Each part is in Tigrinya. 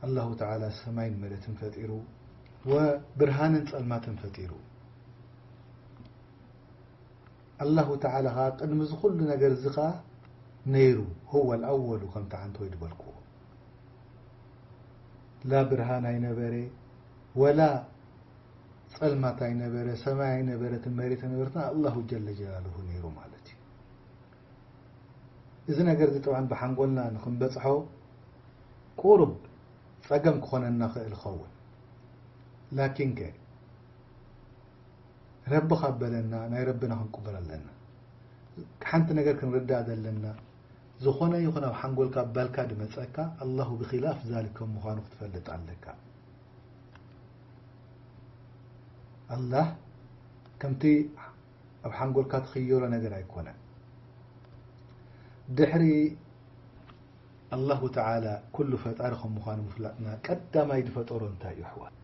ኣላሁ ተዓላ ሰማይን መሬትን ፈጢሩ ወብርሃንን ፀልማትን ፈጢሩ ኣላሁ ተዓላ ኸዓ ቅድሚ እዚ ኹሉ ነገር እዚ ኸዓ ነይሩ ሁወ ልኣወሉ ከምቲ ዓንተወይ ዝበልክዎ ላ ብርሃን ኣይነበረ ወላ ፀልማት ኣይነበረ ሰማይ ኣይነበረትን መሬት ኣይነበረትን ኣላሁ ጀለ ጀላሉሁ ነይሩ ማለት እዩ። እዚ ነገርዚ ጥብዓን ብሓንጎልና ንክንበጽሖ ቁሩብ ጸገም ክኾነና ክእል ይኸውን ላኪንከ ረቢ ካብ በለና ናይ ረቢና ክንቅበሎ ኣለና ሓንቲ ነገር ክንርዳእ ዘለና ዝኾነ ይኹን ኣብ ሓንጎልካ ባልካ ድመጸካ ኣላሁ ብኺላፍ ዛሊክ ከም ምዃኑ ክትፈልጥ ኣለካ ኣላህ ከምቲ ኣብ ሓንጎልካ ትኽየሎ ነገር ኣይኮነን ድሕሪ ኣላሁ ተዓላ ኩሉ ፈጣሪ ከም ምዃኑ ምፍላጥና ቀዳማይ ዝፈጠሮ እንታይ እዩ ኣሕዋት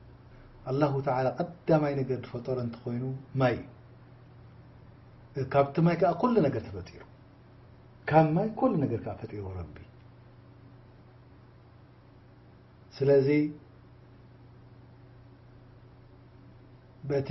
ኣላሁ ተዓላ ቀዳማይ ነገር ዝፈጠሮ እንተኾይኑ ማይ እዩ ካብቲ ማይ ከዓ ኩሉ ነገር ተፈጢሩ ካብ ማይ ኩሉ ነገር ከዓ ፈጢሩ ረቢ ስለዚ በቲ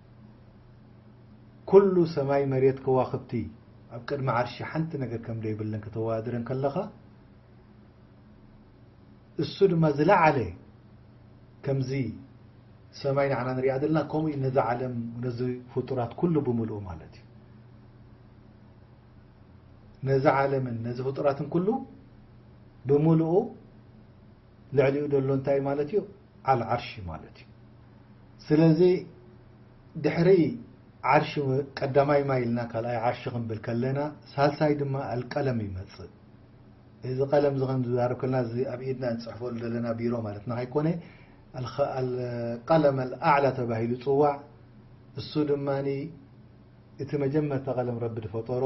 ኩሉ ሰማይ መሬት ከዋኽብቲ ኣብ ቅድሚ ዓርሺ ሓንቲ ነገር ከም ዘይብለን ከተወዳድረን ከለኻ እሱ ድማ ዝለዓለ ከምዚ ሰማይ ንዓና ንሪኣ ዘለና ከምኡ እዩ ነዚ ዓለም ነዚ ፍጡራት ኩሉ ብምልኡ ማለት እዩ ነዚ ዓለምን ነዚ ፍጡራትን ኩሉ ብምልኡ ልዕሊኡ ደሎ እንታይ ማለት እዩ ዓል ዓርሺ ማለት እዩ ስለዚ ድሕሪ ዓርሺ ቀዳማይ ማይ ኢልና ካልኣይ ዓርሺ ክንብል ከለና ሳልሳይ ድማ ኣልቀለም ይመጽእ እዚ ቀለም እዚ ከም ዝዛረብ ከለና እዚ ኣብ ኢድና እንፅሕፈሉ ዘለና ቢሮ ማለትና ከይኮነ ቀለም ኣልኣዕላ ተባሂሉ ፅዋዕ እሱ ድማ እቲ መጀመርታ ቀለም ረቢ ዝፈጠሮ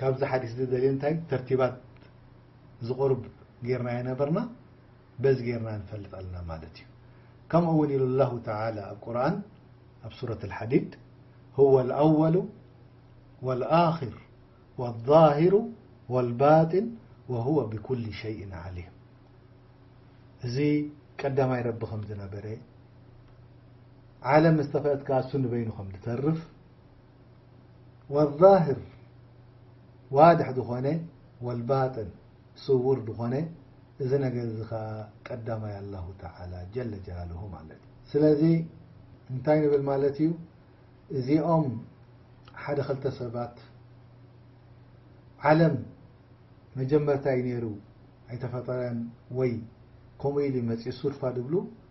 ካብዚ ሓዲስ ዝደልዮ እንታይ ተርቲባት ዝቁርብ ጌርናዮ ነበርና በዚ ጌርና ንፈልጥ ኣለና ማለት እዩ ከምኡ እውን ኢሉ ላሁ ተላ ኣብ ቁርን ኣብ ሱረት ልሓዲድ ሁወ ልኣወሉ ወልኣክር ወልዛሂሩ ወልባጢን ወሁወ ብኩል ሸይን ዓሊም እዚ ቀዳማይ ረቢ ከም ዝነበረ ዓለም ዝተፈጥካ እሱ ንበይኑ ከም ዝተርፍ ወዛህር ዋድሕ ዝኾነ ወልባጥን ስዉር ዝኾነ እዚ ነገር እዚ ከኣ ቀዳማይ ኣላሁ ተዓላ ጀለ ጀላሉሁ ማለት እዩ። ስለዚ እንታይ ንብል ማለት እዩ እዚኦም ሓደ ክልተ ሰባት ዓለም መጀመርታ እዩ ነይሩ ኣይተፈጠረን ወይ ከምኡ ኢሉ መፅኡ ሱድፋ ድብሉ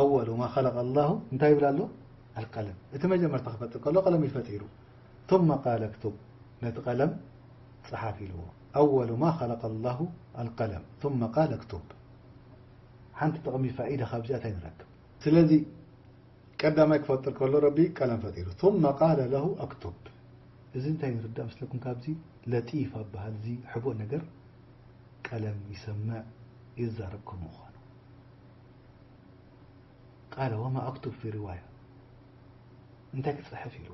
ኣወሉ ማ ኸለቀ ኣላሁ እንታይ ይብል ኣሎ ኣልቀለም እቲ መጀመርታ ክፈጥር ከሎ ቀለም እዩ ፈጢሩ ثመ ቃለ ክቱብ ነቲ ቀለም ፀሓፍ ኢልዎ ኣወሉ ማ ኸለቀ ኣላሁ ኣልቀለም ثመ ቃለ ክቱብ ሓንቲ ጥቕሚ ፋኢዳ ካብዚኣ እንታይ ንረክብ ስለዚ ቀዳማይ ክፈጥር ከሎ ረቢ ቀለም ፈጢሩ ثመ ቃለ ለሁ ኣክቱብ እዚ እንታይ ንርዳእ ምስለኩም ካብዚ ለጢፍ ኣበሃል እዚ ሕቡእ ነገር ቀለም ይሰምዕ ይዛረብ ከምኡ ኾኑ ቃለ ወማ ኣክቱብ ፊ ርዋያ እንታይ ክፅሕፍ ኢሉ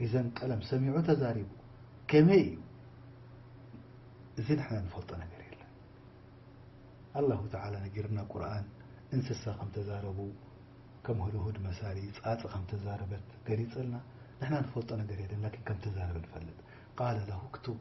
ኢዘን ቀለም ሰሚዑ ተዛሪቡ ከመይ እዩ እዚ ንሕና ንፈልጦ ነገር የለን ኣላሁ ተዓላ ነጊርና ቁርኣን እንስሳ ከም ተዛረቡ ከም ህድሁድ መሳሊ ፃፅ ከም ተዛረበት ገሊፅልና ንሕና ንፈልጦ ነገር የለን ላኪን ከም ተዛረበ ንፈልጥ ቃለ ለሁ ክቱብ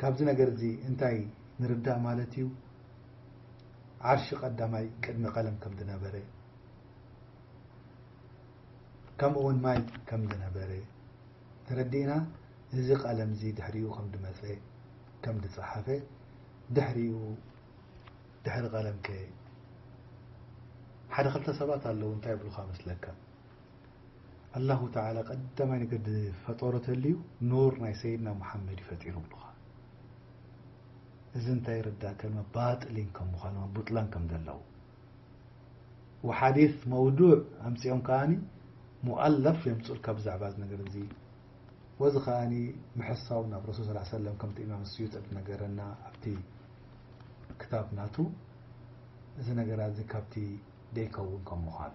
ካብዚ ነገር እዚ እንታይ ንርዳእ ማለት እዩ? ዓርሺ ቀዳማይ ቅድሚ ቀለም ከም ዝነበረ ከምኡ ውን ማይ ከም ዝነበረ ተረዲእና እዚ ቀለም እዚ ድሕሪኡ ከም ዝመፀ ከም ዝፀሓፈ ድሕሪኡ ድሕሪ ቀለም ከ ሓደ ክልተ ሰባት ኣለዉ እንታይ ይብሉኻ መስለካ ኣላሁ ተዓላ ቀዳማይ ነገር ዝፈጠሮ ተልዩ ኑር ናይ ሰይድና ሙሓመድ እዩ ፈጢሩ ብሉኻ እዚ እንታይ የረዳእከ ባጥሊን ከም ምዃኑ ቡጥላን ከም ዘለዉ وሓዲث መውዱዕ ኣምፅኦም ከኣ ሙኣለፍ የምፅልካ ብዛዕባ ዚ ነገር እዚ ወዚ ከኣ ምሕሳው ናብ ረሱል ስ ሰለ ከምቲ ኢማም ስዩጥ ነገረና ኣብቲ ክታብ ናቱ እዚ ነገራት እዚ ካብቲ ደይከውን ከም ምዃኑ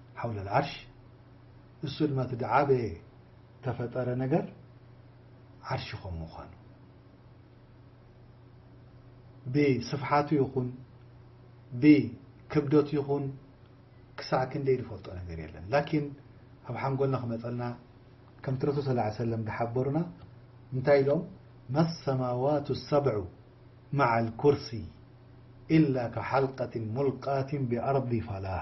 ሓውለ ኣልዓርሽ እሱ ድማ እቲ ድዓበየ ተፈጠረ ነገር ዓርሽ ኾም ምዃኑ ብስፍሓቱ ይኹን ብክብደቱ ይኹን ክሳዕ ክንደይ ዝፈልጦ ነገር የለን ላኪን ኣብ ሓንጎልና ክመፀልና ከምቲ ረሱል ስ ላ ሰለም ዝሓበሩና እንታይ ኢሎም መሰማዋት ሰብዑ ማዓ ልኩርሲ ኢላ ከሓልቀትን ሙልቃትን ብኣርዲ ፋላህ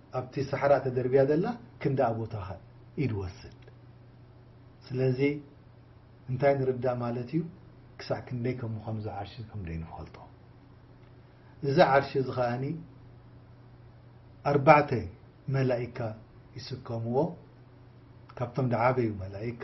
ኣብቲ ሳሕራ ተደርብያ ዘላ ክንድኣ ቦታ ከ ኢድ ወስድ። ስለዚ እንታይ ንርዳእ ማለት እዩ ክሳዕ ክንደይ ከም ምዃኑ እዚ ዓርሺ ከም ደይንፈልጦ። እዚ ዓርሺ እዚ ከኣ ኣርባዕተ መላኢካ ይስከምዎ ካብቶም ድዓበዩ መላኢካ።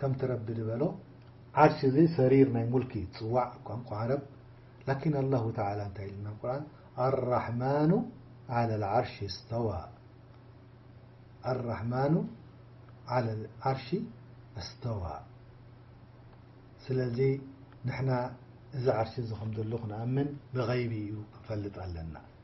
ከምቲ ረቢ ድበሎ ዓርሽ እዚ ሰሪር ናይ ሙልኪ ትጽዋዕ ቋንቋ ዓረብ ላኪን ኣላሁ ተዓላ እንታይ ኢሉና ኣብ ቁርኣን ኣራሕማኑ ዓለል ዓርሽ እስተዋ ኣራሕማኑ ዓለል ዓርሽ እስተዋ ስለዚ ንሕና እዚ ዓርሽ እዚ ከም ዘሎ ክንኣምን ብገይቢ እዩ ክንፈልጥ ኣለና።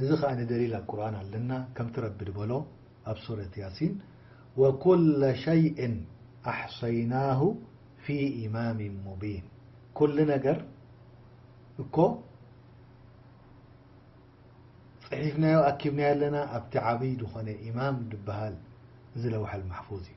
እዚ ከኣ ደሊል ኣብ ቁርኣን ኣለና ከምቲ ረቢ ድበሎ ኣብ ሱረት ያሲን ወኩለ ሸይእን ኣሕሰይናሁ ፊ ኢማም ሙቢን ኩሉ ነገር እኮ ጽሒፍናዮ ኣኪብናዮ ኣለና ኣብቲ ዓቢ ድኾነ ኢማም ድበሃል እዚ ለውሐል ማሕፉዝ እዩ።